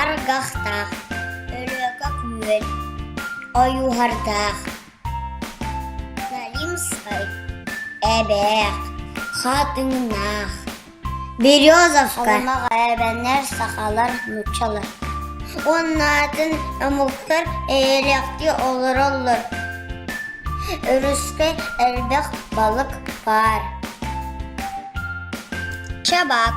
Аргахтаах, Өлөкөк Мүөл, Ойуурдардаах, Наримскай, Эбээх, Хаатыҥнаах, Березовка эбэнэр сахалар нууччалар уонна атын омуктар эйэлээхтик олороллор. Өрүскэ элбэх балык баар. Чабак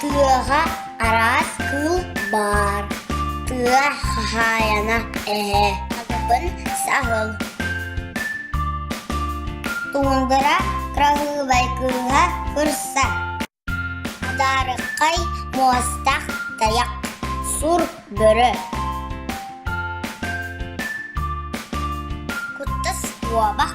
Тыаҕа араас кыыл баар, тыа хаһаайына эһэ табын саһыл Туундара кыраһыабай кыыһа кырса Адаарыккай муостах тайах сур бөрө Куттас куобах